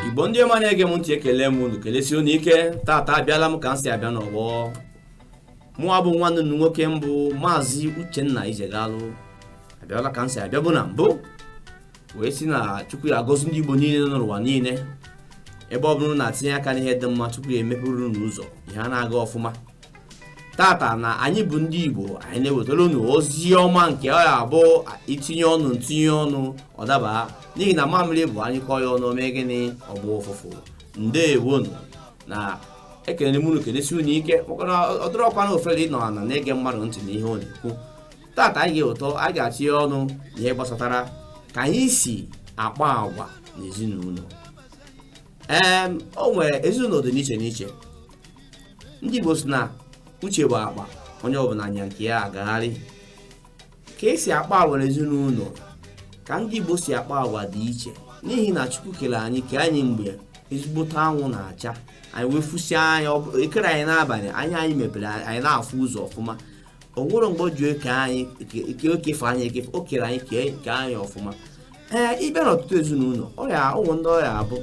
igbo ndị ọma na-ege m ntị ekele m unu kelesie unu ike tata abịala m ka m si abịa n'ọgbọ mụwa bụ nwanne unu nwoke m bụ maazị uchenna ijegalụ abịala ka m si abịa bụ na mbụ wee sị na chukwu ya-agọzi ndị igbo niile nọ n'ụwa niile ebe ọ bụrụ na tinye aka n'ihe dị mma chukwu ya-emepere unu ụzọ ihe a na-aga ọfụma tata na anyị bụ ndị igbo anyị na-ewetara unu ozi ọma nke ọ ya-abụ i tinye ọnụ m tinye ọnụ ọ dabaa n'ihi na mamịrị bụ a nyụkọọ ya ọnụ o mee gịnị ọ gbọọ ụfụfụ ndeewonu na ekelere m unu kelesi unu ike maka na ọ dịrọkwa na ofere ịnọ ana na-ege mmadụ ntị na ihe ọ na-ekwu tata anyị ga-ụtọ anyị ga-atinye ọnụ na ihe gbasatara ka anyị si akpa agwa n'ezinụlọ ee o nwere ezinụlọ dị n'iche n'iche ndị Igbo sị na uche bụ akpa onye ọbụla nya nke ya agagharị ka e si akpa agwa n'ezinụlọ ka ndị Igbo si akpa agwa dị iche n'ihi na Chukwu kere anyị kee anyị mgbe ezigbote anwụ na-acha anyị wee fụsie anya e kerọ anyị n'abalị anya anyị mepere anyị na-afụ ụzọ ọfụma o nwerọ mgbe o ji eke anyị ike o kefe anyị ekefe o kere anyị kee anyị ọfụma ee ị bịa n'ọtụtụ ezinụlọ o nwee ndị ọ ya-abụ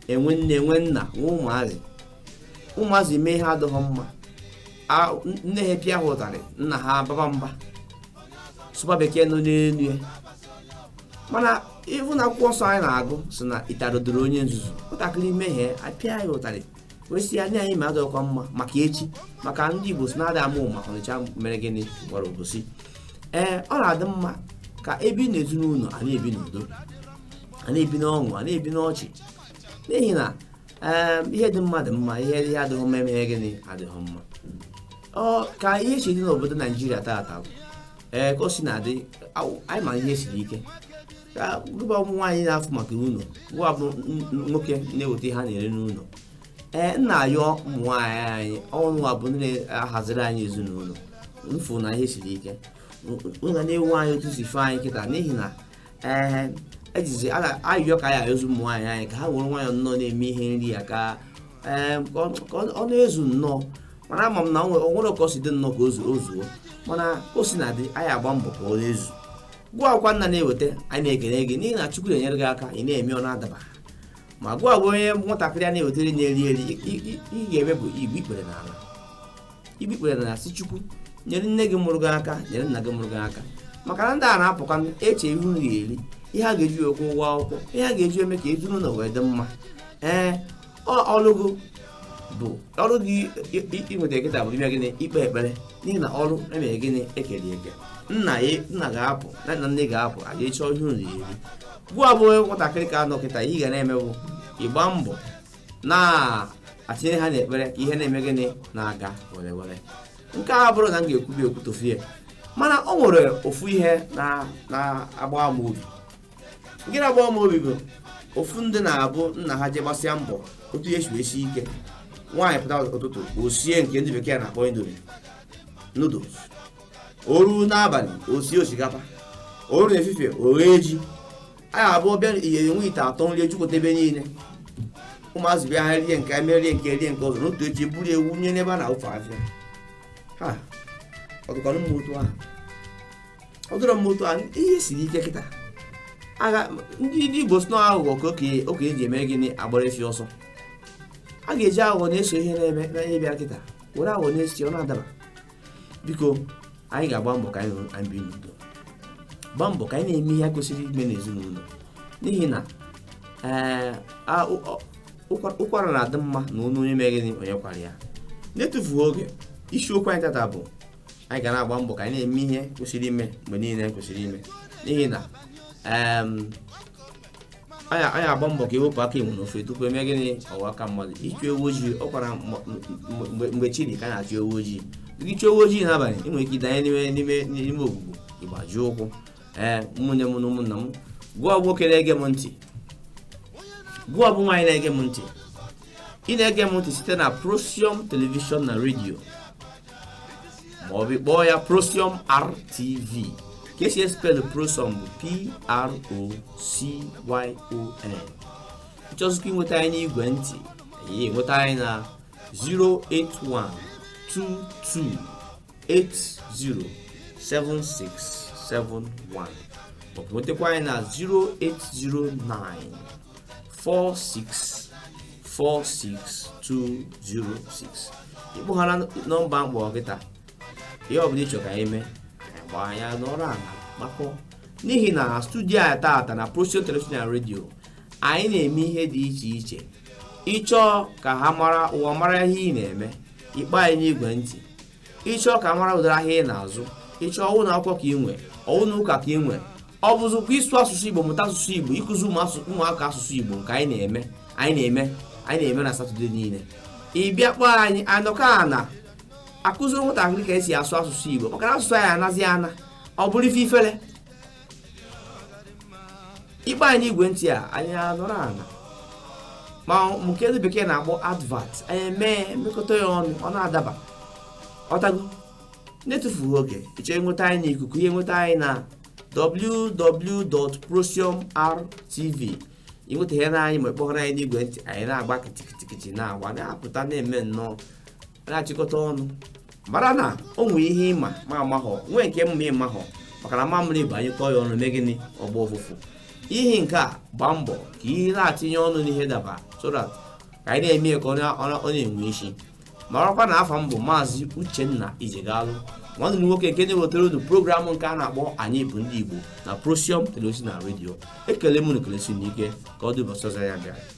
e nwee nne e nwee nna nwee ụmụazị ụmụazị mee ihe adịghị mma A- nne ha pịa ha ụtarị nna ha baba mba sụba bekee nọ n'elu ya mana ị hụ na akwụkwọ nsọ anyị na-agụ sị na ụtarị dịrị onye nzuzu nwatakịrị mehie a pịa ya ụtarị wee sị ya na ihe i mere adịrọkwa mma maka echi maka ndị igbo sị na adị ama ama ọnịcha mere gịnị gwara obosi ee ọ na-adị mma ka e bi na ezinụlọ a na-ebi n'udo a na-ebi n'ọṅụ a na-ebi n'ọchị n'ihi na ee ihe dị mma dị mma ihe ihe adịghị mma mere gịnị adịghị mma ọ ka ihe si dị n'obodo naijiria taata bụ ee ka o si na-adị awụ- anyị ma ihe siri ike ka gụwa bụ nwaanyị na-afụ maka ụlọ gụwa bụ n- n- nwoke na-eweta ihe a na-eri n'ụlọ ee m na-ayọ ụmụ nwaanyị anyị unuwa bụ ndị na-ahaziri anyị ezinụlọ m fụ na ihe siri ike ga na-ewu anyị otu si fee anyị kịta n'ihi na ee ejizi a na- ayịyọ ka anyị ayọzi ụmụ nwaanyị anyị ka ha were nwayọọ nnọọ na-eme ihe nri ya ka ee, ka ọ- ka ọ ọ na-ezu nnọọ mana ama m na o nwere ka o si dị nnọọ ka o zuo mana o si na-adị anyị agba mbọ ka ọ na-ezu gụwakwa nna na-eweta anyị na-ekene gị n'ihi na chukwu na-enyere gị aka ị na-eme ọ na-adaba ma gụwa bụ onye nwatakịrị a na-ewetara nri eri ihe ị ga-eme bụ igbu ikpere n'ala igbu ikpere na-asị chukwu nyere nne gị mụrụ gị aka nyere nna gị mụrụ gị aka maka na ndị a na-apụkwa eche ihe oriri ihe a ga-eji akwụ ụgwọ akwụkwọ ihe a ga-eji eme ka ezinụlọ wee dị mma ee ọrụ gị bụ ọrụ gị nwata kịta bụ ime gịnị ikpe ekpere n'ihi na ọrụ emere gịnị ekere eke nna ya nna ga-apụ na nna nne ga-apụ a ga-achọ ihe unu eri gụwa bụ nwatakịrị ka anọ kịta ihe ị ga na-eme bụ ịgba mbọ na-atinye ha n'ekpere ka ihe na-eme gịnị na-aga were were nke a bụrụ na m ga-ekwubi ekwutofie mana o nwere ofu ihe na-agbawa m obi nke na-agbawa m obi bụ ofu ndị na-abụ nna ha je gbasịa mbọ otu ihe si sie ike nwaanyị pụta ụtụtụ o sie nke ndị bekee na-akpọ indomie noodles o ruo n'abalị o sie osikapa o ruo n'efifie o ghee ji anyị abụọ bịa ihe enwe ite atọ nri ejupụta ebe niile ụmụazị bịa ha rie nke eme rie nke rie nke ọzọ o ruo echi eburu wụnye n'ebe a na-awụfu afịfịa ọ dịkwanụ mma otu ahụ ọ dịrọ mma otu a ihe siri ike kịta agha ndị ndị igbo si na aghụghọ ka oke okenye ji eme gịnị agbara efi ọsọ a ga-eji aghụghọ na-eso ihe na-eme na ihe bịara kịta were aghụghọ na-eso ọ na-adaba biko anyị ga-agba mbọ ka anyị hụ na anyị bi n'udo gba mbọ ka anyị na-eme ihe a kwesịrị ime n'ezinụlọ n'ihi na ee, a- ụ- ọ- ụkwa- ụkwara na-adị mma na onye onye mere gịnị onye kwara ya n'etufughị oge isiokwu anyị tata bụ anyị ga na-agba mbọ ka anyị na-eme ihe kwesịrị ime mgbe niile kwesịrị ime n'ihi na anyị agba mbọ ka ewepụ aka enwe n'ofe tupu eme gịnị ọ ghọọ aka mmadụ ịchụ ewu ojii ọ kwa mgbe chi dị ka a na-achụ ewu ojii gị chụọ ewu ojii n'abalị ị nwere ike ịdanye n'ime n'ime n'ime ogbugbo ịgbaji ụkwụ ee ụmụnne m na ụmụnna m gụwa bụ nwoke na-ege m ntị gụwa bụ nwaanyị na-ege m ntị ị na-ege m ntị site na Procyon telivishọn na redio ma ọ bụ kpọọ ya procyon rtv ka esi espelụ procyon bụ p-r-o-c-y-o-n ị chọzikwa inweta anyị n'igwe ntị i nweta anyị na 08122807671 maọbụ nwetakwa anyị na 0809 4646206 ịkpọghara nọmba m kpọ kịta ihe ọbụla ịchọ ka anyị mee gwa anyị anọrọ ala kpakọọ n'ihi na studio a taata na Procyon Television and Radio anyị na-eme ihe dị iche iche ịchọọ ka ọha mara ụwa mara ihe ị na-eme ị kpọọ anyị n'igwe ntị ịchọọ ka a mara ụdịrị ahịa ị na-azụ ịchọọ ọ wụ ụnọ akwụkwọ ka ị nwe ọ wụ ụnọ ụka ka ị nwe ọ bụzikwa ịsụ asụsụ igbo mụta asụsụ igbo ịkụzi ụmụaka asụsụ igbo nke anyị na-eme anyị na-eme anyị na-eme na satọde niile ị bịa kpọọ anyị anọkọ a na-akụziri nwatakịrị ka esi asụ asụsụ igbo maka na asụsụ anyị anazi ana ọ bụrụ ife ifere ị kpọọ anyị n'igwe ntị a anyị anọrọ ana ma nke ndị bekee na-akpọ advert anyị mee mekọta ya ọnụ ọ na-adaba ọtago na-etufughị oge ị chọọ ịnweta anyị n'ikuku ị ya-enweta anyị na www.procyonrtv i nweta ihe na anyị ma ị kpọrọ anyị n'igwe ntị anyị na-agba kịtịkịtịkịtị na-agba na-apụta na-eme nnọọ na-achịkọta ọnụ mara na o nwere ihe ị ma m amaghọ nwee nke m ma ị maghọ maka na mamịrị bụ a nyụkọọ ya ọnụ mee gịnị ọ gbaa ụfụfụ ihi nke a gbaa mbọ ka ị ya na-atinye ọnụ n'ihe daba so ka anyị na-eme ka ọ na-enwe isi marakwa na afa m bụ maazị uchenna ijegalụ nwanne unu nwoke nke na-ewetara unu programụ nke a na-akpọ anyị bụ ndị igbo na procyon television na redio ekele m unu ekelesie unu ike ka ọ dị ụbọchị ọzọ ya bịara